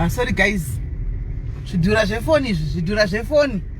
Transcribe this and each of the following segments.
Ah, sorry guys zvidhura zvefoni izvi zvidhura zvefoni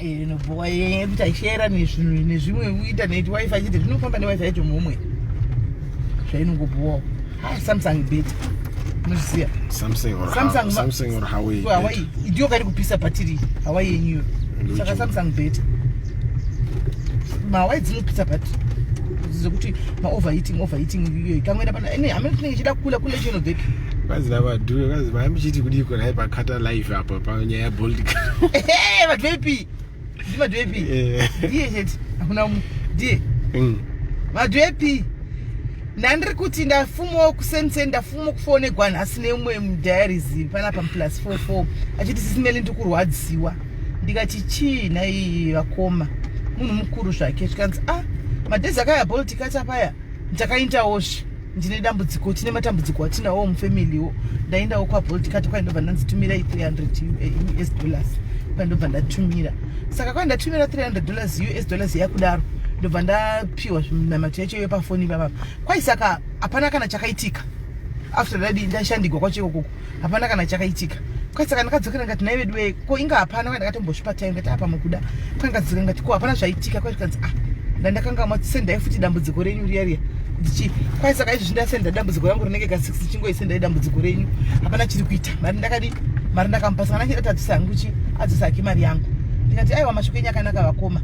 inobhowa yekuti aishera nezvinhu nezvimwe kuita neti wifi chete zvinofamba newifi yacho muhomwe zvainongobhowawo ah, samsung bet unozviziva samsunghawaii ndiyo kari kupisa bhatiri hawaii yenyuyo saka samsung bet mahawai dzinopisa bhatiri zekuti maoverheating overheating iyoyo ikangoenda pana ine hameno tinenge ichida kukula kule chinobheki kazi lava dhuyo kazi vaimuchiti kudii kunai pakata life apo panyaya yabold vadwepi ndi madwepi eh. ndiye chete hakuna mu ndiye mm. madwepi ndandiri kuti ndafumawo kusenseni ndafuma kufonegwa nhasi neumwe mudiaries panapa muplus 44 achiti sisimeli ndi kurwadziwa ndikati chii nai vakoma munhu mukuru zvake zvikanzi a ah, madhezi akayaboltikata paya ndakaindawo zve ndine dambudziko tine matambudziko atinawo mufamiliwo ndaendawo kwabolt kati kwai ndobva ndanzi tumirai 300 us dollars kwai ndobva ndatumira saka kwai ndatumira 300 dollars us dollars yakudaro ndobva ndapiwa zvinamato yacho yepafoni ipapapa kwai saka hapana kana chakaitika after dadi ndashandigwa kwacho ikokoko hapana kana chakaitika kwasaka ndakadzokera ngati nai vedu wee ko inga hapana kwa ndakatombosvipa time ngati apa mukuda kwandikadzokera ngati ko hapana zvaitika kwa zvikanzi ah ndandakanga matisendai futi dambudziko renyu riya riya ndichi kwai saka izvi zvindasenda dambudziko rangu rinenge ka six chingoisendai dambudziko renyu hapana chiri kuita mari ndakadi mari ndakamupa saka ndachida tadzisa hangu chi adzisa hake mari yangu ndikati aiwa mashoko enyu akanaka vakoma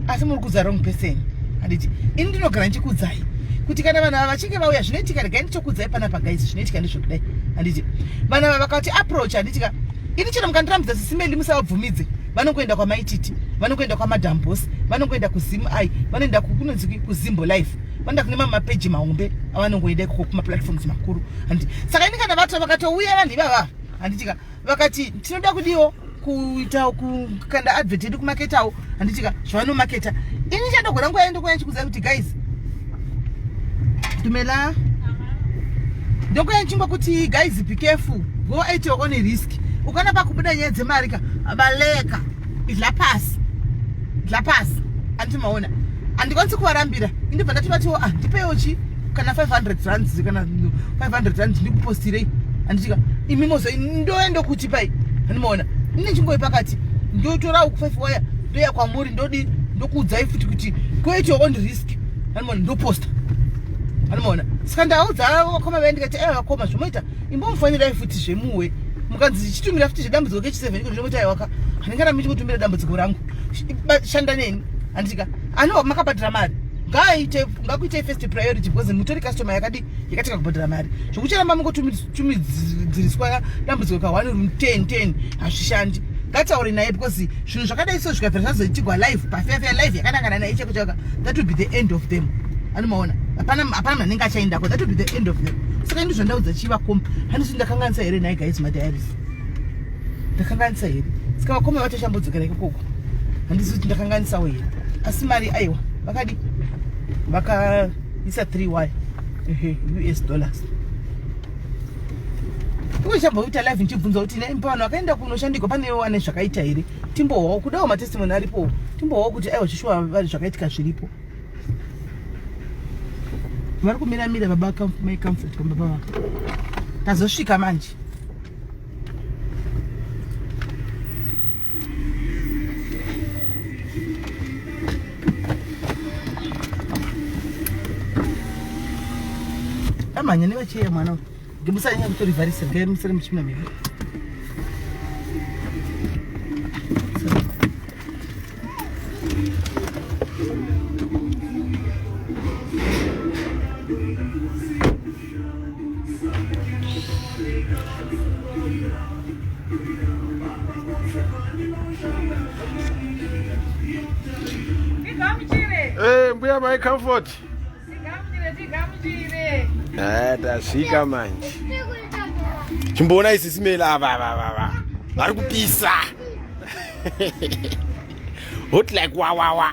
asi muri kudza wrong person handiti ini ndinogara ndichikudzai kuti kana vanhu ava vachinge vauya zvinoitika regai ndichokudzai panapa guys zvinoitika ndezvekudai handiti vanhu ava vakati approach handitika ini chero mukandirambidza sisimeli musavabvumidze vanongoenda kwamaititi vanongoenda kwamadambos vanongoenda kuzim i vanoenda kunonzi kuzimbo life vanoenda kune mamapeji mahombe avanongoenda ikoko kumaplatforms makuru handiti saka ini kana vati vakatouya vanhu ivava handitika vakati tinoda kudiwo kuita kukanda advert yedu kumaketawo handitika zvavanomaketa ini chandogona nguva yendokwa yachikuziva kuti guys dumela ndokwa yachingwa kuti guys be careful go at your own risk ukana pakubuda nyaya dzemari ka baleka idla pasi idla pasi andimaona handikwanisi kuvarambira indibva ndativatiwo ah ndipeiwo chii kana 500 rands kana 500 rands ndikupostire anditika imi mozo ndoenda kuti pai andimaona ine nzvimbo yepakati ndotora uku 5 waya ndoya kwamuri ndodi ndokuudzai futi kuti create your own risk andimaona ndoposta andimaona saka ndaudza vakoma vaye ndikati aya vakoma zvomoita imbomufanyirai futi zvemuwe mukanzi chichitumira futi zvedambudziko kechi 7 iko zvomoita aiwaka handingana michikutumira dambudziko rangu shanda neni anditika ano makabhadhira mari ngaaite ngakuitei first priority because mutori customer yakadi yakatanga kubhadhara mari zvokucharamba mungotumidziriswa dambudziko ka one room ten ten hazvishandi ngataure naye because zvinhu zvakadai so zvikabvira zvazoitigwa live pafefe live yakanangana naye cheko chaka that will be the end of them anomaona hapana hapana manenge achaendako that will be the end of them saka ndizvo ndaudza chiva kombi handisi ndakanganisa here naye guys madiaries ndakanganisa here saka vakoma vatoshambodzokera ikokoko handizi kuti ndakanganisawo here asi mari aiwa vakadi vakaisa 3 y ehe us dollars iwechamboita live ndichibvunza kuti nepano akaenda kunoshandikwa pane wane zvakaita here timbohwawo kudawo matestimony aripowo timbohwawo kuti aiwa chishuwa zvakaitika zviripo vari kumira mira baba mai comfort pamba pava tazosvika manje amhanya nevacheya mwana uyu Musanyanya kutorivharisa, regai musare muchipinda mhepo. Hey, mbuya mai comfort. Eh, tasvika manje chimboona isi simela ava vavava vari kupisa hot like wawawa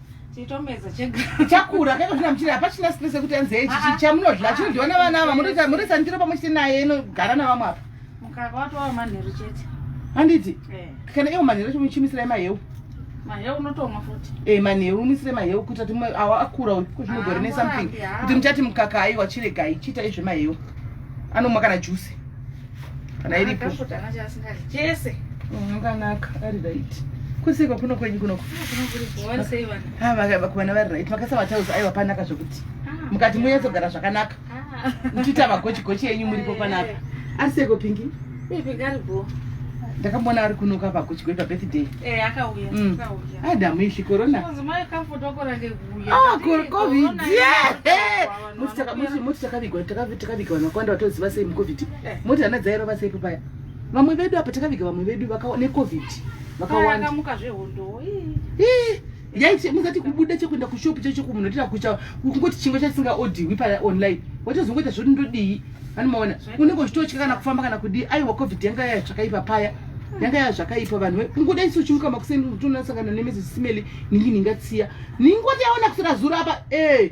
chitomedza chega chakura kaita zvina muchira hapachina stress yekuti anzi hei chichi chamunodya chinodyiwa navana ava munoita munoisa ndiro pamwe chete naye inogara navamwe apa mukaka watova manheru chete handiti kana iwo manheru chimuchimisirai maheu maheu unotomwa futi e manheru umisire maheu kuita kuti awa akura uyu ko zvinogorine something kuti muchati mukaka aiwa chiregai chiita izvemaheu anomwa kana juice kana iripo chese unganaka oh, ari right kusiko kuno kwenyu kunoko vakuvana vari right makasa matauzi aiwa panaka zvekuti ah, mukati munyatsogara zvakanaka ah. muchiita magochigochi enyu muripo panaka ari seko pingi ndakamboona ari kunoka pakuchigoi pabirthday eh, mm. adamu ishi corona ah, covid moti taka- moti- moti takavigwa takavi- takaviga vanhu vakawanda vatoziva sei mucovid Eh. moti hana dzairova sei papaya vamwe vedu apa takaviga vamwe vedu vaka- necovid vakawanda akamuka zvehondowo ii. Eh, yaiti musati kubuda chekuenda kushopu chaicho kumunhu otira kucha kungoti chingwa chasingaodhiwi pa online watozongoita zvoti ndodii anomaona unenge uchitotya kana kufamba kana kudii aiwa covid yanga yaya zvakaipa paya yanga yaya zvakaipa vanhu we kungoda isu uchimuka makuseni utonasangana nemezi simeli ningi ningatsiya ningoti yaona kusira zuro apa eh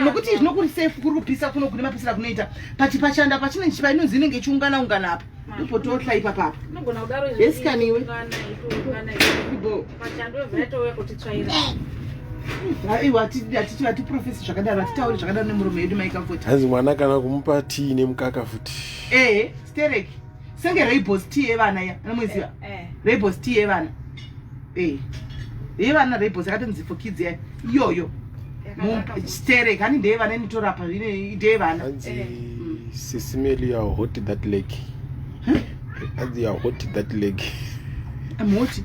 nokuti izvi nokuri safe kuri kupisa kuno kune mapisira kunoita pati pachanda pachinenge chipa inonzi inenge ichiungana ungana apa ndopototla ipapapa esikaniwe hatiprofesi zvakadaro hatitauri zvakadaro nemurume yedu maikavoti hanzi mwana kana kumupa tii nemukaka futi ehe stereki senge raibos t yevana iya anomuziva eh, eh. raibos t yevana eh. yevana raibos yakatonzi for kids ya iyoyo stere kani ndeyevana initorapa ndeyevana sisimeli ya hot that leg anzi ya hot that leg moti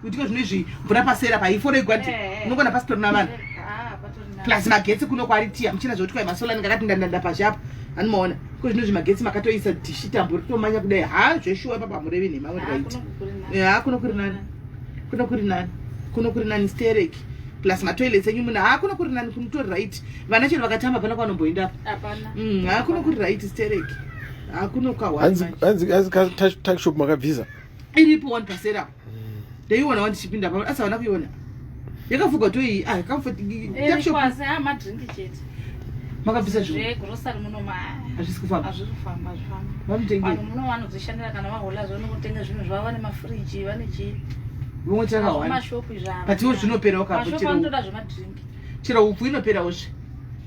kuitika zvine izvi mvura pasera pa ifore igwati eh, eh. unogona pasitori na vanhu ah, plus magetsi kuno kwari tiya muchina zvekuti kwai masola ndinga kati ndandanda pazhe apo anomaona ko zvino zvimagetsi makatoisa dhishi tambo ritomanya kudai ha zveshuwa papa murevi nhema kuti vaiti ha kuno kuri nani kuno kuri nani kuno kuri nani stereki plus matoilets enyu muna ha kuno kuri nani kunotori right vana chero vakatamba pana kwanomboenda apa mm, ha kuno kuri right stereki ha kuno kahwa hanzi hanzi hanzi takshop makabvisa iripo one pasera ndaiona wandichipinda pa asi havana kuiona yakafuga to iyi ah, makabvisa zvihazvisi kufambavamwe chakawanda but iwo zvinopera ukachero upfu inoperawo zve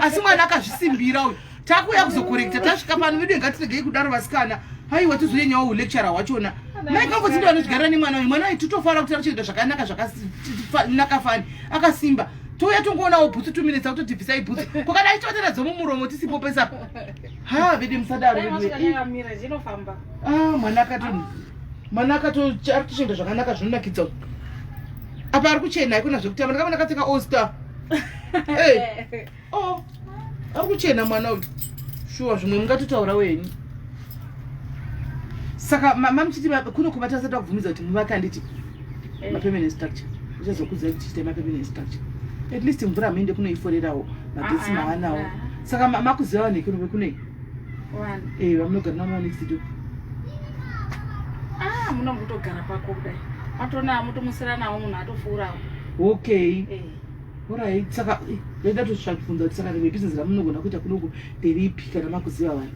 asi mwana akazvisimbira uyu takuuya kuzokorekta tasvika pano vedu ngatiregei kudaro vasikana haiwa tizoyenyawo ulecturer hwachona maikambozindo anozvigarira nemwana uyu mwana uyu titofanira kuti arikuchengeta zvakanaka zvakanaka fani akasimba touya tongoonawo bhutsu two minutes akuto tibvisai bhutsu kokana aitoatera dzomumuromo tisipo pesa ha vede musadaro ah, mwana akato mwana akatoarikutoshenda zvakanaka zvinonakidza apa ari kuchena haikona zvekutamba ndakamana katenga all star ey oh ari kuchena mwana uyu shuwa zvimwe mungatotaura wenyu saka mamuchiti kuno kubata asati akubvumidza kuti muvake anditi eh. mapermanent structure uchazokudza kuti chiita mapermanent structure at least mvura muende kunoiforerawo magetsi ah, ah, maanawo ah. saka makuziva vanhu vekuno vekunei Eh, vamunogara navo next door. Ah, munombotogara pako kudai. Matona amutomusira nawo munhu atofurawo. Okay. Eh. Alright, saka eh, ndaida tosvika kubvunza kuti saka rimwe business ramunogona kuita kunoko nderipi kana makuziva vanhu.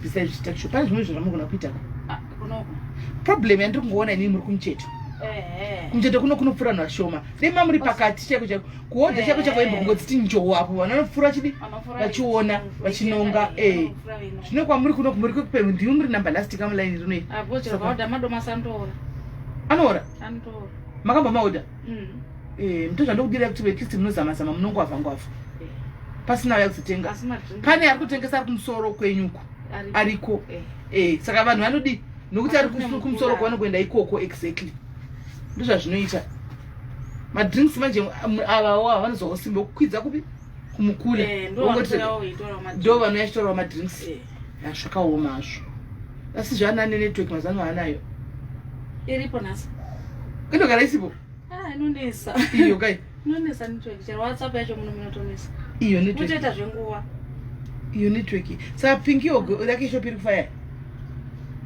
Besides zvita shop, pane zvimwe zvamunogona kuita ka? Ah, kunoko. Problem yandiri kungoona inini muri kumucheto. Eh. eh. Kumucheto kuno kunopfura vanhu vashoma. Dai mamuri pakati chaiko chaiko. kuodha chako chako imbo kungodziti njowo apo vana vanopfuura vachidi vachiona vachinonga ee zvino kwamuri kuno kumuri kwekupemhu ndimi muri number last kamulaini rinoi anoora makamba maoda mm. ee mto zvandokudira kuti at least munozamazama munongwavha ngwavha pasina uya kuzotenga pane ari kutengesa ari kumusoro kwenyuko ariko ee saka vanhu vanodii nokuti ari kumusoro kwavanokuenda ikoko exactly ndozvazvinoita madrinks manje avawo ava vanozowa usimbe kukwidza kupi kumukula eh, ndo vano yachitorawo madrinks eh. ah, zvakaoma hazvo asi zvaana ane network mazano aanayo iripo nhasi inogara isipo ah, inonesa iyo kai inonesa network chero whatsapp yacho muno munotonesa iyo network iyo network saka pinki yogo lake ishopi iri kufaya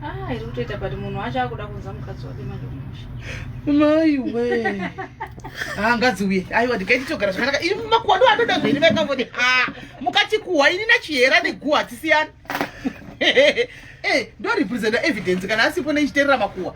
Ah, iri kutoita but munhu wacho akuda kunza mukadzi wake manje kumusha maiwe haangadziuye ah, aiwa ndikaiti togara zvakanaka iri makuwadu anoda zveni vaikavoti ha ah, mukati kuhwa ini nachihera neguha tisiyana eh, ndorepresenta evidence kana asipo neichiterera makuwa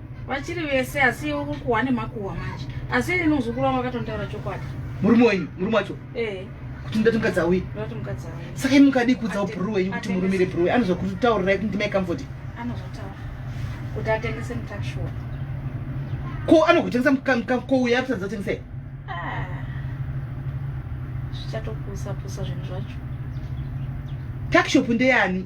vachiri vese asi iwe kukuhwa nemakuhwa manje asi ini muzukuru wangu akatondaura chokwadi murume wenyu murume wacho eh. kuti ndati mukadzi auye saka imi mukadii kuudzawo bhuru wenyu kuti murumire bhuru wenyu anozokutaurirai kuti ndimai kamfoti ko anogotengesa mukouya akusatidza kutengesei ah. zvichatopusapusa zvinhu zvacho takshop ndeyani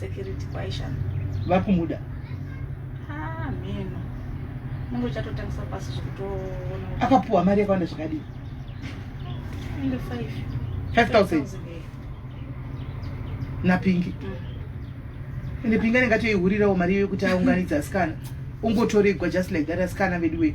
security kwaishana vakumuda ah meno mungu uchatotangisa pasi zvekutoona akapuwa mari yakawanda zvakadii 5000 napingi mm. ende pingi anenge atoihurirawo mari iyo yekuti aunganidza asikana ungotoregwa just like that asikana veduwei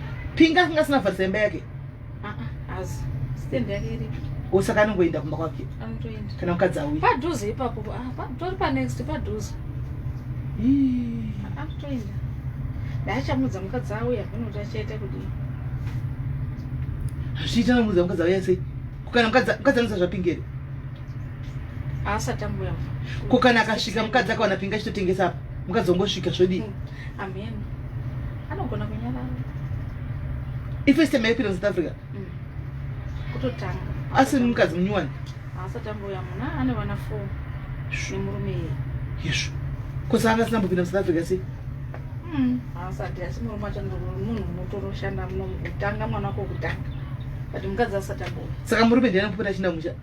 Pinga kanga sina vharisa imba yake. Ah ah, azi. Stand yake iri. Usaka anongoenda kumba kwake. Anotoenda. Kana mukadzi auye. Padhuze ipapo. Ah, patori pa next padhuze. Ii. Ah, anotoenda. Ndaachamudza mukadzi auye akunoti achaita kudii. Hazviita nomudza mukadzi auye sei? Kukana mukadzi mukadzi anosa zvapingere. Aasati ambuya. Kukana akasvika mukadzi akawana pinga chitotengesa apa. Mukadzi ongosvika zvodii? Hmm. Amen. Anogona kunyarara. Ife siteme ipinda South Africa. Mm. Kutotanga. Asi mukadzi munyuwani. Asati ambuya muna ane vana 4 nemurume iye. Yeshu. Kosa anga sina kupinda South Africa si. Mm. Asati asi murume wacho munhu unotoroshanda muno kutanga mwana wako kutanga. But mukadzi asati ambuya. Saka murume ndiye anopota chinda musha.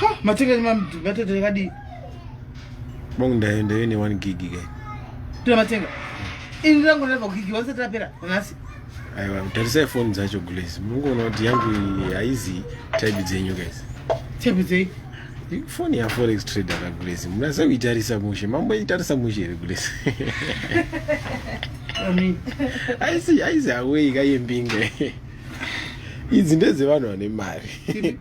Ha, matekeni mamdu ngatete yakadii? Bongo ndayo ndayo ine 1 gig ke. Tira matenga. Ini rangu rava gig wanze tapera nhasi. Aiwa, tarisai phone dzacho guys. Mungoona kuti yangu haizi type dzenyu guys. Type dzenyu? Phone ya forex trader ka guys. Munasa kuitarisa mushe. Mambo itarisa mushe here guys. Amen. Aisi aisi away ka yembinge. Idzi ndedze vanhu vane mari.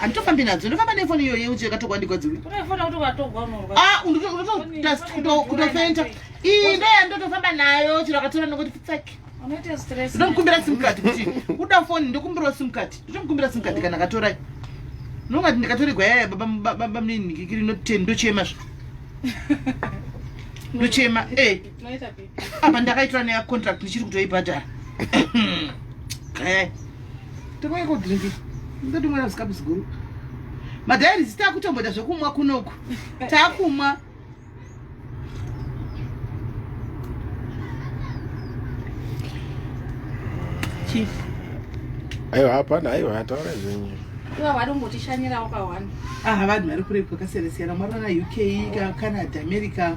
handitofambi nadzo ndofamba nefoni iyoyo yeuchi yakatogwa ndigwadziwe ah, kutofenta iyi ndeya ndotofamba nayo chiro akatora nokuti pitsaki ndomukumbira simcard kuti uda foni ndokumbirawo simcard ndotomukumbira simcard kana akatorai nongati ndikatoregwa yaya baba mnini ndikiri ndochema zvo ndochema e eh. apa ndakaitora neya contract ndichiri kutoibhadhara eh. tokoiko drink ndotimwera zikapu ziguru madhairi zita kutomboita zvekumwa kunoku takumwa chief aiwa hapana aiwa ataura zvenyu iva vari kungotishanyirawo pahwani aha vanhu vari kurepo kasiyana siyana mwarona uk canada america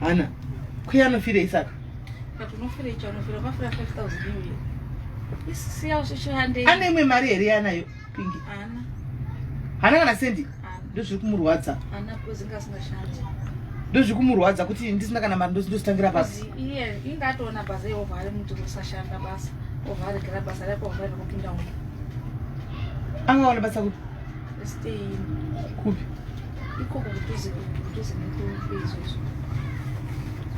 hana kwi anofirei saka ane imwe mari here yanayo pingi hana kana sendi ndozviri kumurwadza ndozviri kumurwadza kuti ndisina kana mari ndositangira pasi angaona basa kupi ikoko mudhuze mudhuze nekombe izvozvo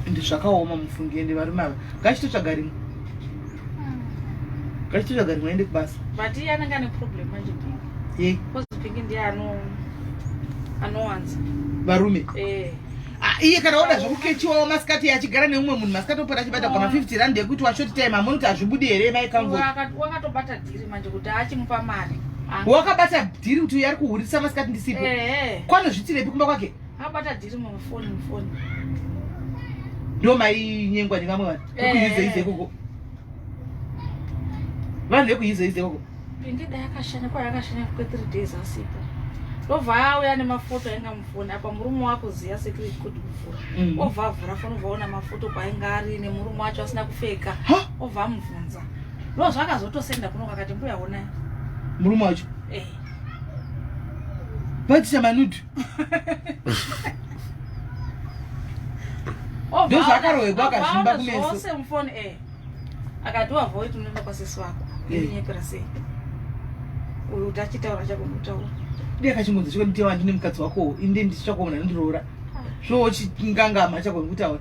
ende zvakaoma mufungi ende varume ava ngachitotsvaga rimwe ngachitotsvaga rimwe ende kubasa but iye anenge ane problem manje pingi ye bcause pingi ndiye ano anowanza varume eh Ah, iye kana oda zvekukechiwawo masikati achigara neumwe munhu masikati opera achibata goma 50 rand yekuti washoti time amoni kuti hazvibudi here mai kamvoti wakatobata Dhiri manje kuti achimupa mari. Wakabata dhiri kuti uyu ari kuhurisa masikati ndisipo. Ehe. Kwanozvitirepi kumba kwake? Akabata dhiri mufoni mufoni. Ndo mai nyengwa nevamwe vanhu. Kuyize ize koko. Vanhu vekuyize ize koko. Pindida yakashanya kwa yakashanya kwa 3 days asipo. Ndobva auya nemafoto ainga mufoni apa murume wako ziya secret good kuvhura. Mm. Obva avhura foni obva ona mafoto kwainga ari nemurume wacho asina kupfeka. Obva amubvunza. Rose vakazotosenda kuno kakati mbuya honai. Murume wacho. Eh. Batisa manudu. Oh, Ndozo akarohegwa akazvimba kumeso. Zvose mufoni eh. Akatiwa voice unoenda kwa sisi wako. Eh. Inyepera sei. Uyu utachitaura chako mutaura. Ndiye akachingonzi chiko ndiye wandine mukadzi wako inde ndichakuona ndirora. Ah. Zvochingangama chako ngutaura.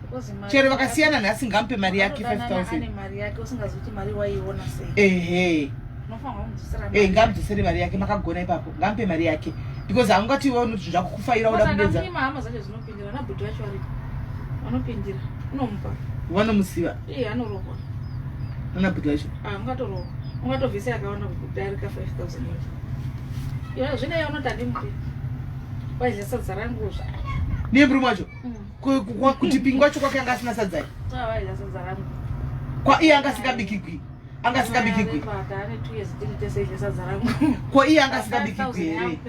chero vakasiyana nhasi ngamupe mari yake 5000 eh ngamudzosere mari yake makagona ipapo ngamupe mari yake because haungati iwe unoti zvakukufaira uda kudenza vanomusiva anabhuti vacho ungatovisa yakawanda kudarika 5000 zvine yaunoti andimupi waizesa dzarangu zva nemrume wacho mm. kuti pingi wacho kwake anga asina sadzai kwa iye anga asingabikigwi anga asingabikigwi kwa iye anga asingabikigwi here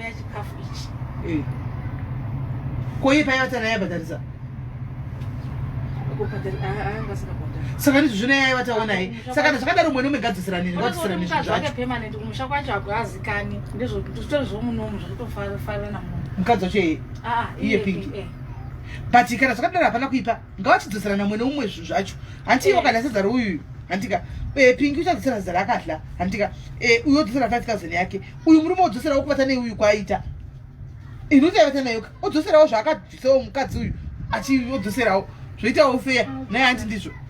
eh. kwa iye paiva tana yaibhadharisa saka ndizvo zvino yaiva taona ye saka na zvakadaro mwene umegadzisira nini gadzisira nini zvachomusha kwacho hakuazikani ndizvo zvitori zvomunomu zvakutofara namunhu mukadzi wacho iye pingi but kana zvakadaro hapana kuipa ngavachidzoserana umwe neumwe zvinhu zvacho hanti ivo kana sezara uyuyu handika eh, pingi uchadzosera zera akadla handika eh, uyu odzosera five thousand yake uyu murume odzosera wokubata nei uyu kwaaita ini uchaibata nayoka odzoserawo zvaakabvisawo mukadzi uyu achiodzoserawo zvoitawo feya naye hanti ndizvo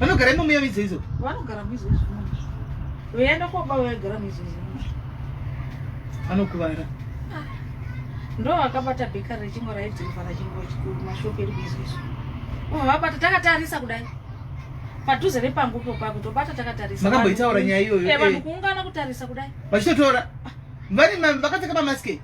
vanogara imomo yamidzo idzo vanogara mizo izvimozvo veienda koba vaigara mizo izvimozvo vanokuvara ah. ndo vakabata bheka rechimbo raidhiriva rachimbomashopi eri mizo izvo uma vabata takatarisa kudai padhuze nepangu popa kutobata takatarisa makamboitaura nyaya iyoyo eh, vanhu eh. kuungana kutarisa kudai vachitotora ah. vari vakapfeka pamaske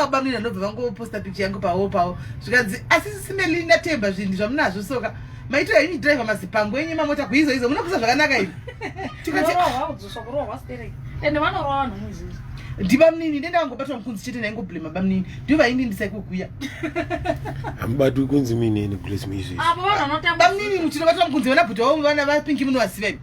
vabamnini vanobva vangoposta picha yangu pavo pavo zvikanzi asi sisimeli ndatemba zvinhu zvamunazvo soka maitira ini drive mazipango enyu mamota kuizo izo munokusa zvakanaka ivi tikati ndibamnini ndenda vangobatwa mukunzi chete ndaingoblema bamnini ndivo vaini ndisaikukuya amubati ukunzi minini blesmizbamnini muchinobatwa mukunzi vana bhuti vavo vana vapingi munovaziva ivi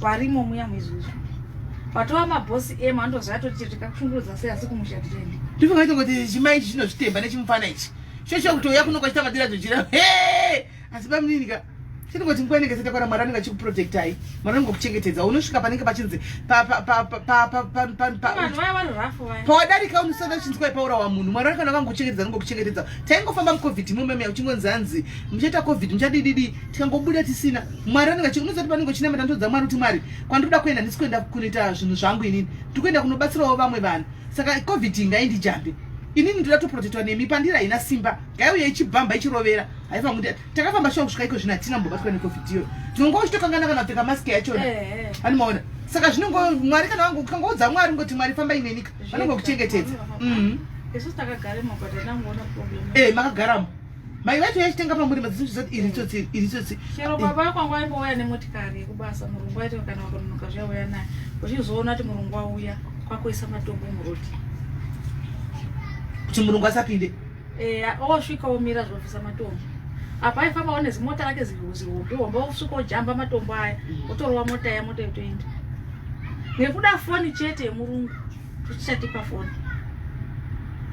varimo muya muizvozvo patova mabhosi emu andoziva atoti tikakushungurudza sei asi kumusha tichaendi ndivakaita kuti chimai ichi chinozvitemba nechimufana ichi shosho kutouya kunokwachita madira dzochira he asi bamunini ka chinongoti nguva inenge satakwara mwari anenge achikuprotectai mwari anenge kuchengetedza unosvika panenge pachinzi pawadarika unosada uchinzwa ipaura wa munhu mwari anenge anenge kuchengetedza anenge kuchengetedza taingofamba mucovid imomeme uchingonzi hanzi muchaita covid muchadididi tikangobuda tisina mwari anenge unozati panenge uchina matanto dzamwari kuti mwari kwandikuda kuenda ndisi kuenda kunoita zvinhu zvangu inini ndikuenda kunobatsirawo vamwe vanhu saka covid ingaindijambe inini ndoda toprotectwa nemi pandira haina simba ngaiuye ichibvamba ichirovera haifangu takafamba shuwa kusvika iko zvino hatina mbobatwa necovid iyoyo tinongo uchitokangana kana kupfeka mask yachona ani maona saka zvinongo mwari kana wangu ukangoudza mwari ungoti mwari famba inenika vanongokuchengetedza e makagaramo mai vacho yachitenga pamuri madzizozvizoti iri tsotsi iri tsotsi chero baba kwangu aimbouya nemotikari yekubasa murungu aiti kana wakunonoka zviyauya naye uchizoona kuti murungu auya kwakuisa matombo muroti kuti murungu asapinde eya osvika omira zvinobvisa matombo apa aifamba one zimota rake zihombe hombe osvika ojamba matombo aya mm. otorova mota ya mota yotoenda nekuda foni chete yemurungu tichatipa foni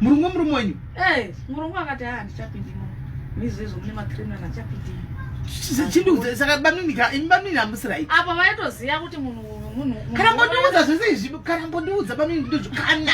murungu wemurume wenyu e murungu akati haa ndichapindi mo mizi izvo mune macriminal achapindi saka bamninika imi bamnini hamusirai apa vaitoziva kuti munhu munhu kana mbondiudza zvese izvi kana mbondiudza bamnini ndozvikana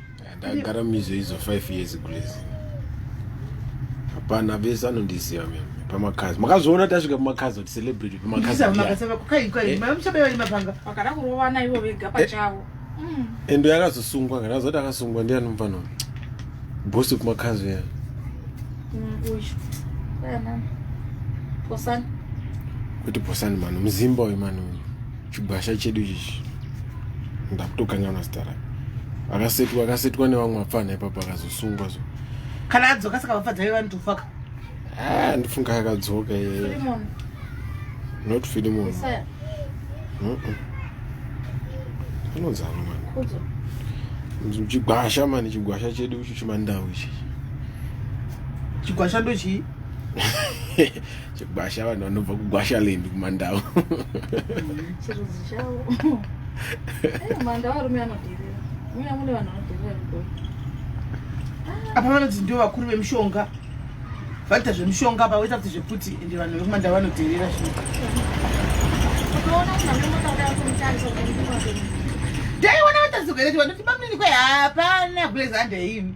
ndagara mizo izo 5 years grace hapana vese anondiziva mimi pamakazi makazoona tasvika pamakazi kuti celebrity pamakaziendo yakazosungwa kana azoti akasungwa ndiani mufano bosi kumakazi ya kuti bosani manu muzimba uyu manu uyu chigwasha chedu chichi ndakutokanyaona zita rake akasetwa akasetwa nevamwe apfanha ipapo akazosungwa so kana adzoka saka vafadza ve vanhu tofaka ah, ndifunga akadzoka iye not filimon anozana mani chigwasha mani chigwasha chedu icho chimandau ichi chigwasha ndochii chegwasha vanhu vanobva kugwasha land kumandau chirudzi chavo eh, mandau arume anoderera muya mune vanhu vanoderera rugoi apa vanonzi ndio vakuru vemushonga vaita zvemushonga apa voita kuti zvekuti ende vanhu vekumandau vanoderera zvino dai wana vatazigwereti vanoti bamunini kwe hapana gulezande imi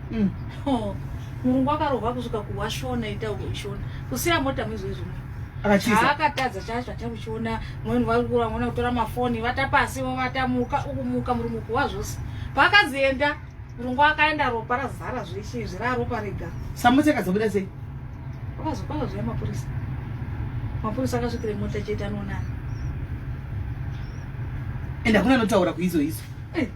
Mm. Oh. Murungu akarohwa kusvika kuwashona ita uishona. Kusiya mota mwezo izvo. Akachisa. Akatadza chacho ata kuchiona mweni vari kura mwana kutora mafoni vata pasi vata muka ukumuka murungu kuwa zvose. Pakazienda murungu akaenda ropa razara zveshe zvira ropa rega. Samutse kazobuda sei? Akazokwanga zviya mapurisa. Mapurisa akasvikira mota chete anoona. Enda kuna notaura kuizo izo.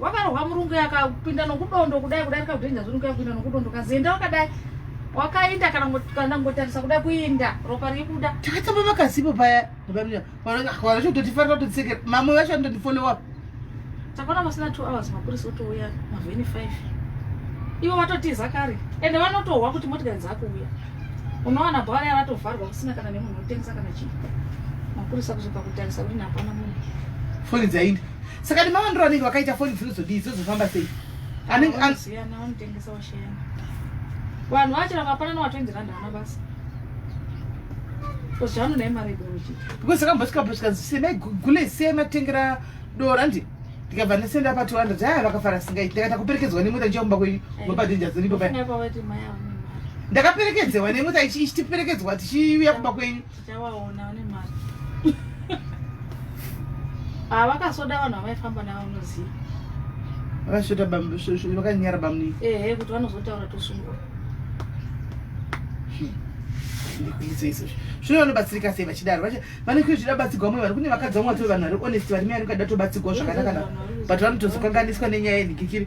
wakarohwa murungu yakapinda nokudondo kudai kudai rikakudhenja zurungu yakupinda nokudondo kazienda wakadai wakainda kana kana ngotarisa kuda kuinda ropa rikuda takatamba makazipo paya vanototifarira kutotsekera mamwe vacho anototifollowa takaona masina two hours mapurisa otouya mavheni five ivo vatotiza kare ende vanotohwa kuti motikari dzakuuya unowana bhara yavatovharwa kusina kana nemunhu otengesa kana chii mapurisa kuzoka kutarisa kuti napana munhu foni dzainda saka nemawandiro anenge vakaita foni dzinozodii dzozofamba sei anenge anoziyana vanotengesa washeyana vanhu vachira vapanana watoenzera ndana basa because akambosvika pasvika zvisema igule isema tengera dora ndi ndikabva ndasenda pa 200 aya vakafara singaiti ndakaita kuperekedzwa nemota ndichakumba kwenyu mapadenja dziripo paya ndakaperekedzewa nemota ichitiperekedzwa tichiuya kumba kwenyu Chawaona une mari. Ah vakasoda vanhu vavaifamba navo unoziva. Vakasvota bambo shosho vakanyara bamni. Ehe kuti vanozotaura tosungwa. Hmm. Ndikuizo izo. Shosho vanobatsirika sei vachidaro. Vacha vane kuti zvida batsirwa mwe vanhu kune vakadzi vamwe vatove vanhu vari honest vari miyari kada tobatsirwa zvakanaka. But vanotozokanganiswa nenyaya yenhikikiri.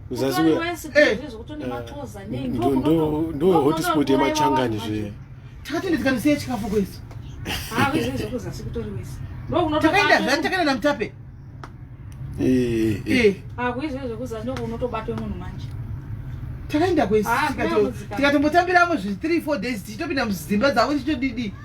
kuzasi uya eh. ndo hotspot yemachangani zve takati nditikanisei chikafu kwesu takaenda zvani takaenda namutape eh, eh, takaenda kwesi tikatombotambiramo zvi 3 4 days tichitopinda mudzimba dzavo tichitodidi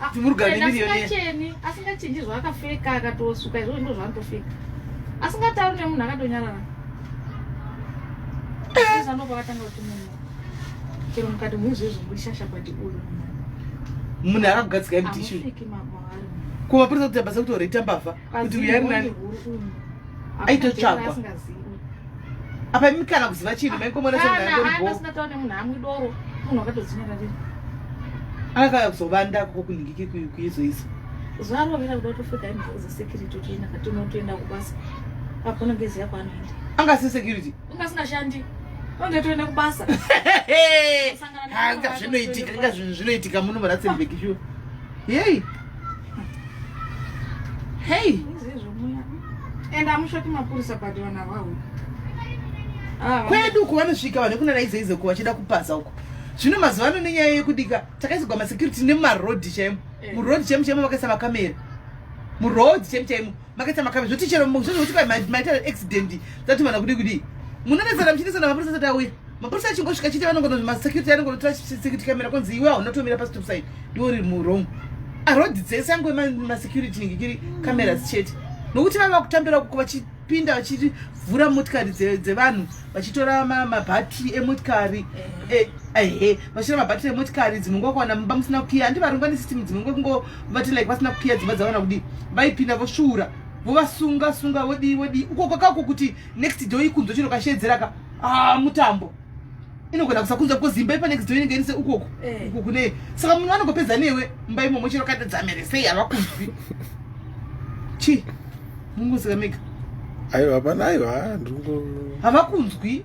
Ah, Kuti murugare Ena nemirioni ye- asingacheni asingachinji zvaakapfeka akatosuka izvozvo ndo zvaanotopfeka asingatauri nemunhu akatonyarara Sasa ndo pakatanga kuti munhu chero mukati muizvezvo muri shasha pati uyu munhu munhu akagadzika mdishu amupfeki mama ari munhu kumapurisa kuti abasa kuti oreta mbavha kuti uya ari nani aitotsvagwa apa imi kana kuziva chinhu maingomona semunhu akauya kuzovanda koko kunhingiki kuizoizo zuva rovera kuda kutofika imboza security uchienda katinotoenda kubasa apo unenge ziya kwaanoenda anga si security unga singashandi unge toenda kubasa anga zvinoitika inga zvinhu zvinoitika muno muratsenbeki shuwa yei Hey. And amushoti mapurisa but vana vawo. Ah, Kwedu uko vanosvika vanhu kunana izo izo kuva chida kupaza uko. Zvino mazuva ano nenyaya yekudika takaisogwa masecurity nemaroad chaimo. Eh. Muroad chaimo chaimo vakaisa makamera. Muroad chaimo chaimo. makaita makabe zvoti chero zvozvoti pai maita accident zati mana kudi kudi munonetsana muchinetsana mapurisa sati auya mapurisa achingosvika chiti vanongona masecurity anongonotora security camera konzi iwe hauna tomira pastop side ndiwo riri murong arodhi dzese angoe masecurity nenge kiri cameras chete nokuti vava kutambira kuko vachipinda vachivhura motikari dzevanhu vachitora mabhatiri emotikari ehe eh, eh, eh, vachitora mabhatiri emotikari dzimwe nguva kuwana mumba musina kukiya andivarunga nesystem dzimwe nguva kungo vati like vasina kukiya dzimba dzavana kudii vaipinda vosvuura vovasunga sunga vodii vodii uko kwakako kuti next door ikunzwa chino kasheedzeraka ah mutambo inogona kusakunzwa because imba ipa next door inenge inise ukoko eh. uko kune saka munhu vanongopedza newe mba imomo chino kaita dzamere sei havakunzwi chii mungozikamega aiwa hapana aiwa ndingo havakunzwi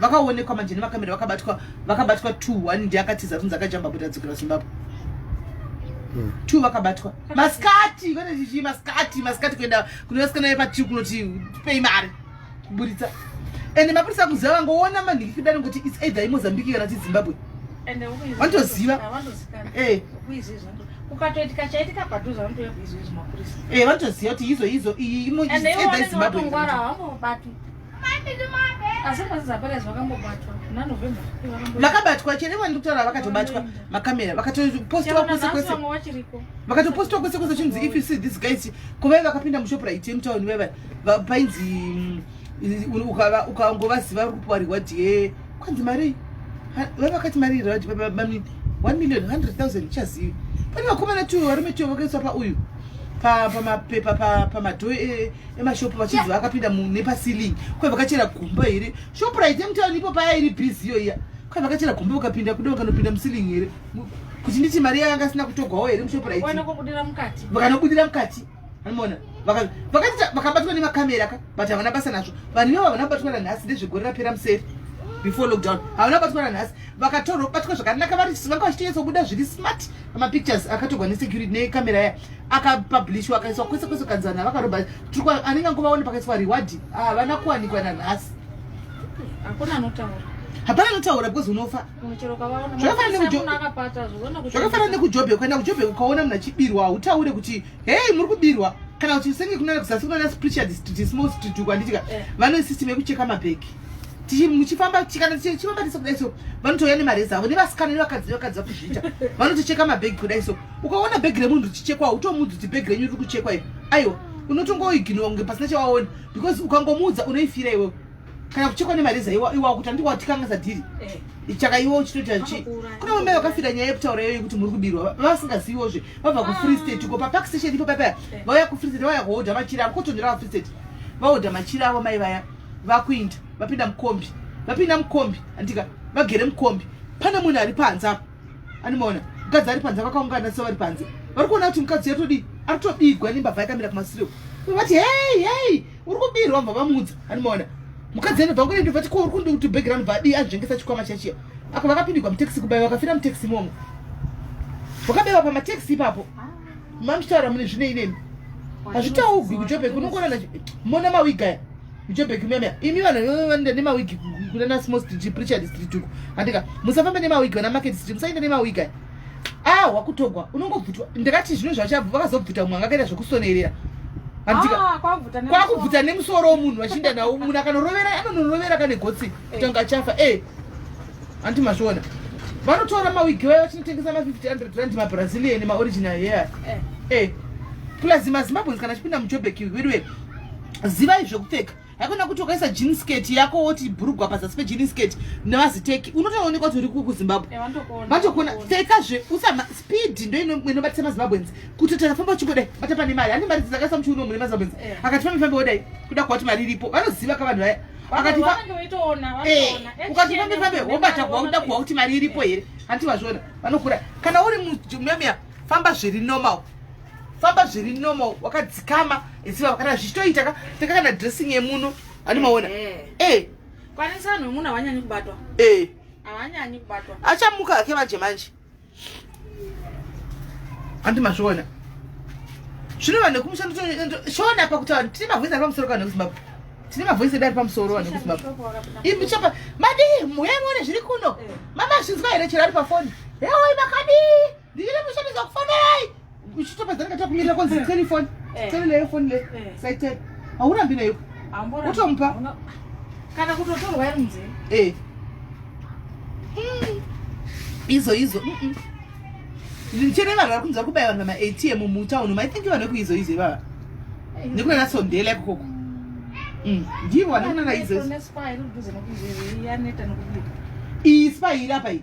vakaonekwa manje nemakamera vakabatwa vakabatwa two one ndiye akatiza kunzi akajamba kuti adzokera zimbabwe hmm. two vakabatwa masikati kwete chichii masikati masikati kuenda kunovasikana vepatiu kunoti pei mari kuburitsa ende mapurisa kuziva vangoona manhingi kudani kuti its either imozambique kana ti zimbabwe vanotoziva eh. ukatoitika chaitika padhuze vanotouya kuizwa izvi mapurisa eh, vanotoziva kuti izo izo iyi either izimbabwe vakabatwa chete vani kutaura vakatobatwa makamera vakatopostiwa kwese kwese vakatopostiwa kwese kwese chinzi if you see this guys kovai vakapinda mushopura iti yemutauni vaiva painzi mm, ukangovaziva uri kupuwa reward yee kwanzi mari vave vakati mari iri vati bamini one million hundred thousand chazivi pane vakomana two varume two vakaiswa pauyu pamapepa pamadho e, emashopu vachinzi vakapinda nepasiling kwai vakachera gumba here shopu raite mutauni ipo paya iri busy iyo iya kwai vakachera gumba ukapinda kuda vakanopinda musiling here kuti nditi mari yayo anga asina kutogwawo here mushopu raite vakanobudira mukati Unaona? Vaka vakati vakabatwa ne makamera ka but havana basa nazvo. Vanhu ivo havana batwa na nhasi ndezvegore rapera museri. Before lockdown. Havana batwa na nhasi. Vakatorwa batwa zvakanaka vari vanga vachitiyetsa kubuda zviri smart. Ma pictures akatogwa ne security ne camera ya aka publish wakaiswa kwese kwese kanzana vakaroba. Trikwa anenge nguva one pakaiswa reward. Havana kuwanikwa na nhasi. Hakuna anotaura. Hapana anotaura because unofa. zvakafanana nekujobheki kuenda kujobheki ukaona munhu achibirwa hautaure kuti hei muri kubirwa kana kuti senge kunana kuzasi kunana spiritual district small street uko anditika eh. vane system yekucheka mabheki muchifamba kana tichifamba tese kudai so vanotouya nemareza avo nevasikana nevakadzi nevakadzi vakuzviita vanotocheka mabhegi kudai so ukaona bhegi remunhu richichekwa utomudzi kuti bhegi renyu riri kuchekwa io aiwa unotongoiginwa kunge pasina chawaona because ukangomuudza unoifira iwewe kana kuchekwa nemareza iwa iwa kuti andiko watikangaza dhiri eh. ichaka iwo uchitoita chi kuna mumai wakafira nyaya yekutaura iyoyo kuti muri kubirwa vasingaziviwo zve vabva kufree ah. state ko papark station ipo papaya eh. vauya kufree state vauya kuhodha machira avo kotondera vafree state vahodha machira avo mai vaya vakuinda vapinda mukombi vapinda mukombi andika vagere mukombi pane munhu ari panze apo Animona, mukadzi ari panze vakaungana so vari panze. Vari kuona kuti mukadzi yatodi ari kutobigwa nembavha yakamira kumasiro. Vati hey hey, uri kubirwa mbavha mudza. Animona. Mukadzi anobva ngone ndobva tiko uri kundi kuti background badi azvengesa chikwama chachiya. Apa vakapindigwa mutaxi kubaya vakafira mutaxi momo. Vakabewa pa mataxi ipapo. Mamshara mune zvine inemi. Hazvitaugwi kujobe kunongona na mona mawigaya. Joburg meme imi vanhu vanoenda nemawigi kunana small street preachard street uko andika musafambe nemawigi vana market street musaenda nemawigi aya ah wakutogwa unongobvutwa ndakati zvino zvachabva vakazobvuta mumwe angakaita zvekusonerera andika ah, kwakubvuta nemusoro womunhu vachienda nawo munhu akanorovera anonorovera kane gotsi eh. kuti anga achafa e eh. andi mazviona vanotora mawigi vaye vachinotengesa ma50 hundred rand mabrazilian maoriginal here e eh. plus mazimbabweans kana achipinda mujoburg weduwe zivai zvekupfeka haikona kuti wakaisa jean skirt yako woti bhurugwa pazasi pejini skirt nevaziteki unotoonekwa kuti uri kuzimbabwe eh, vatokuona pfekazve usama speed ndoinobatisa mazimbabwens kuti takafamba uchingodai bata pane mari handi mari dzakaisa muchiuno mune mazimbabwens eh. akati fambe fambe wodai kuda kuva kuti mari iripo vanoziva ka vanhu vaya akati eh, ukati fambe fambe wobata kuva kuda kuva kuti mari iripo here hanti vazviona vanokura kana uri mumemia famba zviri normal famba zviri normal wakadzikama ziva kana zvichitoita ka teka kana dressing yemuno ani maona eh, eh. eh. kwanisa vanhu vemuno havanyanyi kubatwa eh. havanyanyi kubatwa achamuka ake manje manje handi mazviona zvino vanhu vekumusha shona apa kuti vanhu tine mavhoisi ari pamusoro kana kuzimbabwe tine mavhoisi edu ari pamusoro vanhu vekuzimbabwe imi chapa madii muyemone zviri kuno eh. mama zvinzwa here chero ari pafoni eoi makadii ndiri kushandisa kufanai uchitopedzana kata kumirira konzi eh. telefoni eh. tele leyo foni le eh. saitele haurambi nayo utomupa kana kutotorwa iri munzee eh izo izo ndichene vanhu vari kunzwa kubaya vanhu vamaatm mutown umu i think vanhu vekuizo izo ivava nekunana sondela ikoko mm. ndivo vanokunana izo izo iyi spa iri apa iyi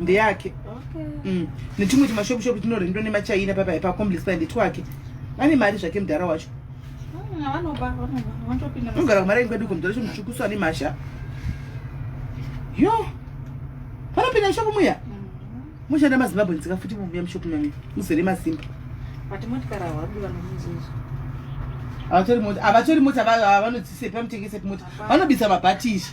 ndeyake mm. netumwe tumashopu shopu tinorendwa nemachina papai pacomplex pa ndetwake vane mari zvake mudhara wacho unogara kumari aingu kweduko mudhara cho mutsvukusu ane mhasha yo vanopinda mushopu muya mushanda mm. mazimbabwe nzika futi mubuya mushopu mami muzere masimba havatori mota havatori mota vanodzisepi vanotengesepi mota vanobisa mabhatishi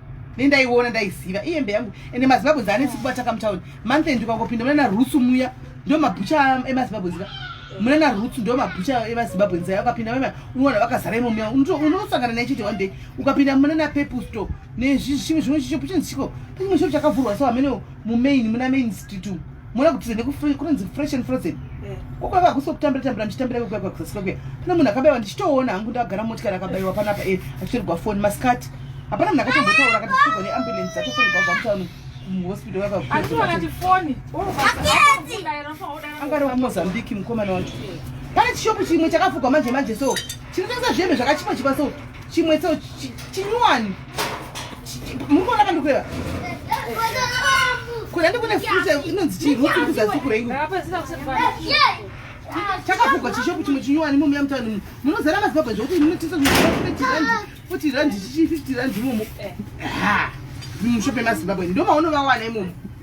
ne ndaiona ndaiziva iyembe yangu ende mazimbabwe dzaanetsi kubataka mutown month end ukangopinda munana rutsu muya ndo mabhucha emazimbabwe zika munana rutsu ndo mabhucha emazimbabwe nzaya ukapinda mema unoona vakazara imomuya unosangana naye chete one day ukapinda munana peple store nezvimwe zvimwe chicho puchinzi chiko pachimwe chiro chakavhurwa so hameneo mumain muna main street umu mona kuti nekunonzi fresh and frozen eh. kokwava hakusi kutambira tambira ndichitambira vekuya kwakusasika kuya pane munhu akabaiwa ndichitoona hangu ndagara motikari akabaiwa panapa e achitorigwa foni masikati hapana munhu akatombotaura akati tichigwa neambulance atofonigwa kwamutaunu muhospital vakaangari wemozambique mukomana wacho pane chishopu chimwe chakafugwa manje manje so chinotengesa zvembe zvakachipa chipa so chimwe so chinyuwani mukuona pandikueva kuna ndikune futa inonzi chii ruti kuzasi kurengu chakavhugwa chishopu chimwe chinyowani momuya mutani munozara mazibabwa zvekuti munotisa futi randi chichi fifty randi imomo mushope mazimbabwe ndomaonovawana imomo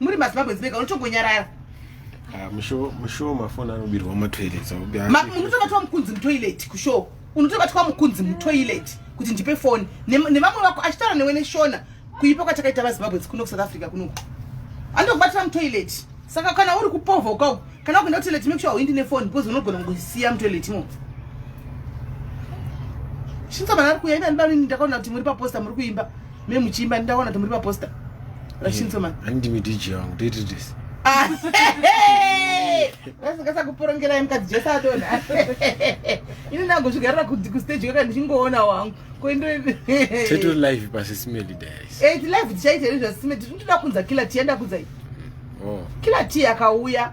muri mazimbabwe zibeka unotongonyarara ah, mushow mafoni anobirwa mumatoilet munotobatwa mukunzi mutoilet kushow unotobatwa mukunzi mutoilet kuti ndipe foni nevamwe vako achitaura newe neshona kuipa kwatakaita vazimbabwe dzikuno kusouth africa kunoku anotokubatira mutoilet saka kana uri kupovha ukau kana ukuenda kutoilet make sure hauindi nefoni because unogona kusiya mutoilet imo shinsa vanhu ari kuya ina ndibani ndakaona kuti muri paposta muri kuimba Me muchiimba ndaona kuti muri paposter. Rashinso man. Eh, Andimi DJ wangu toita this. Ah, Rasingasa kuporongera yemkadzi Jesu atona. Ini ndangozvigarira kuti ku stage kaka ndichingoona wangu. Koindo Teto live pa Sisimeli days. Eh, live tichaita izvo Sisimeli. Tinoda kunza killer tienda kunza. Oh. Killer tea akauya.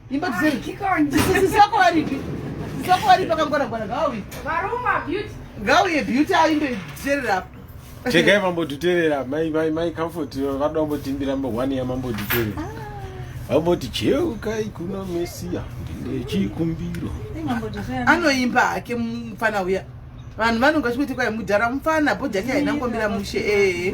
Imba dziri. Sisi sako varipi? Sako varipi pakangwara gwara gawi. Varuma beauty. Gawi ye beauty aimbe dzerera apa. Chegai mambo tuterera mai mai mai comfort vada kumbotimbira mambo one ya mambo tuterera. Ah. Vamboti cheuka ikuna mesia ndine chikumbiro. Anoimba hake mfana uya. Vanhu vanonga vachikuti kwai mudhara mfana bhodhi yake haina kumbira mushe eh.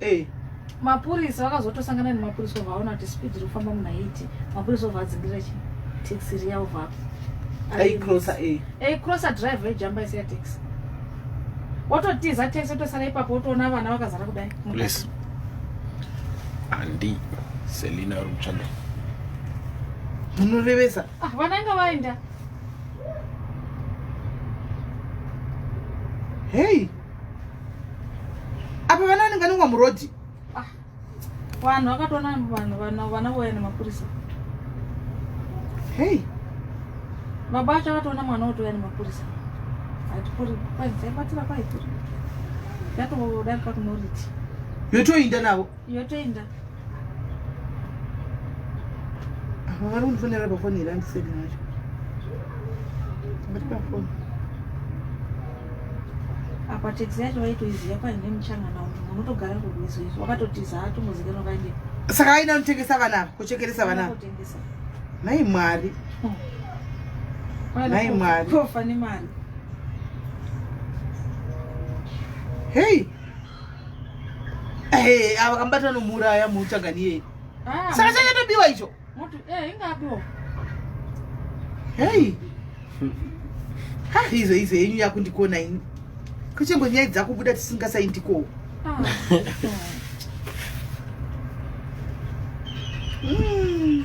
hey. mapurisa vakazotosangana nemapurisa ovaona kuti speed iri kufamba muna 8 mapurisa ovadzingirira chi taxi riya ovapa aicrossa drive ejamba isiya taxi wototiza taxi otosara ipapo wotoona vana vakazara kudai andi selina uri kutsvaga munorevesa ah, vana inga vaenda hey apa vana vanenge vanongwa murodhi ah, vanhu vakatoona vanhu vana voya nemapurisa hei baba acho akatoona mwana wotouya nemapurisa atipuriaibatira kwaipuri yatodarika kunoriti yotoinda navo yotoenda apa vari kundifonera pafoni here andiseki nacho vari pafoni apa teksi yacho vaitoiziva paine muchangana umu unotogara kurwizi izvi wakatotiza atombozikanwa vaende saka aina kutengesa vana ava kuchekeresa vana ava nhai mwari hmm. nhai mwari tofa nemari hei hey. Eh, ava kambata nomuuraya muuchagani iyeye. Ah, Saka chakatobiwa icho. Mutu eh ingabiwa. Hey. Ha, izo izo yenyu yakundikona ini. Kuchengo nyaya dzakubuda tisingasaindikowo. Ah. Hmm.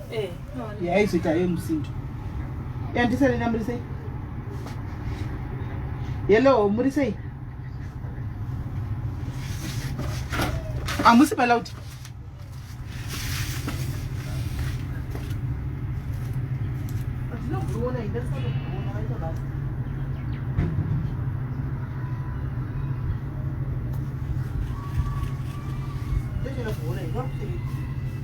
Eh, yaizoita ye musindo yandisanena muri sei hello muri sei hamusi balauti Thank you.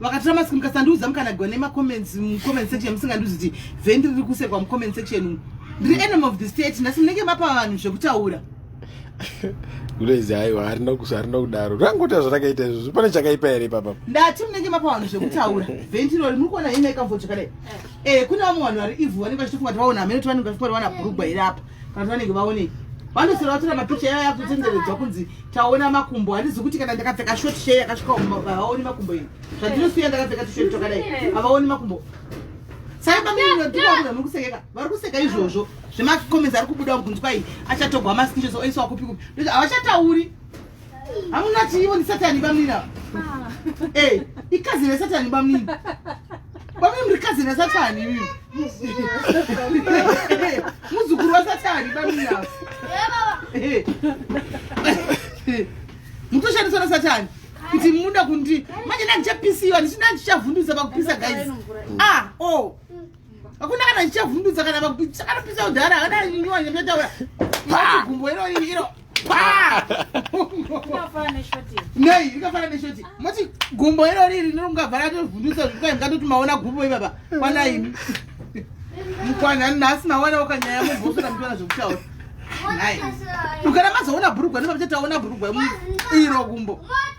vakatora mask mukasandiudza mukanagwa nemacomments mucomment section musingandiudzi kuti vendi riri kusekwa mucomment section umu ndiri enemy of the state nhasi munenge mapa vanhu zvekutaura ulezi aiwa harina kudaro rangota zvarakaita izvozvo pane chakaipa here papa ndati munenge mapa vanhu zvekutaura ventirori muri kuona ine ikamvochakadai eh. eh, kune vamwe vanhu vari ivhu vanenge vachitofunga kuti vaona hameno ti vanenge vachifunga kuti vana bhurugwa here apa kana vanenge vaonei vanosira vatora mapicha yavo yakutenderedzwa kunzi taona makumbo handizi kuti kana ndakapfeka short share yakasvika havaoni makumbo iyi zvandinosiya ndakapfeka tishort twakadai havaoni makumbo sai paminotiakuda muri kusekeka vari kuseka izvozvo zvemacomments ari kubuda kunzwa iyi achatogwa maskishots oiswa kupi kupi havachatauri hamuna chiivo ni satani bamnini ava ah. eh, ikazini yasatani bamnini bamnini muri kazini yasatani ivi muzukuru wasatani bamnini ava eh. mutoshandiswa na satani kuti muda kundi manje ndandichapisiwa ndichida ndichavhundutsa pakupisa guys ah o oh. hakuna kana chichavhundutsa kana vakupisa kana pisa udhara kana nyuwa nyamataura pa gumbo iro iro pa nei rikafana neshoti moti gumbo iro riri rinongavhara tovhundutsa zvikai mukatoti maona gumbo ivava kwana imi mukwana nhasi mawana wakanyaya mubhosora mutona zvekutaura nai ukana mazoona bhurugwa nemabachataona bhurugwa iro gumbo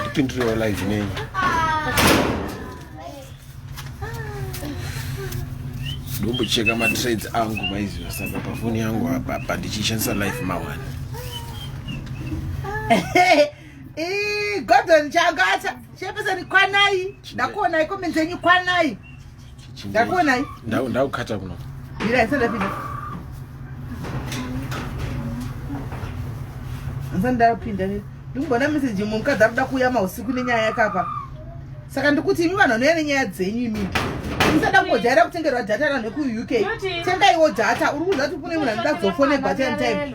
ndipindirewo live nenyu ndombocheka matrades angu maiziva saka pafoni yangu apa apa ndichishandisa life mawani gordon changata chepesani kwanai ndakuonai komenzenyu kwanai ndakuonai ndakukata kuno mira isandapinda ndapinda ndikumbona meseji mumwe mukadzi ari kuda kuuya mausiku nenyaya yakapa saka ndikuti imi vanhu vanouya nenyaya dzenyu imi musada kungojaira kutengerwa data ranhu vekuuk tengaiwo data uri kuziva kuti kune munhu anoda kuzofonebwa ten time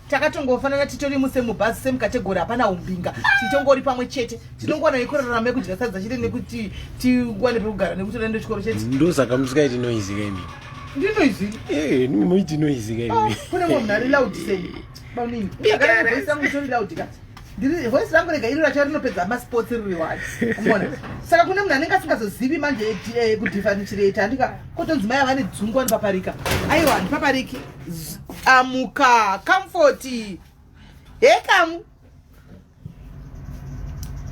takatongofanana titori muse mubhazi semukategori hapana umbinga tichongori pamwe chete tinongowana yekurarama yekudya sadza chete nekuti tiwane pekugara nekuti unaenda chikoro chete ndosaka musikaiti noizi kaimi ndinoizi eh, moiti noizi kaimi ah, kune munhu ari laudisei baunini akaaisangu tori laudika ndiri voice rangu rega iri racho rinopedza masports riri wani umona saka kune munhu anenge asingazozivi manje eh, kudhifanicirate andika kotonzi mai avane dzungu anopaparika aiwa handipapariki amuka kamfoti he kamu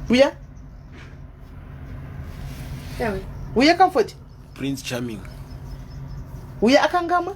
uya uya kamfoti prince charming uya akangamwa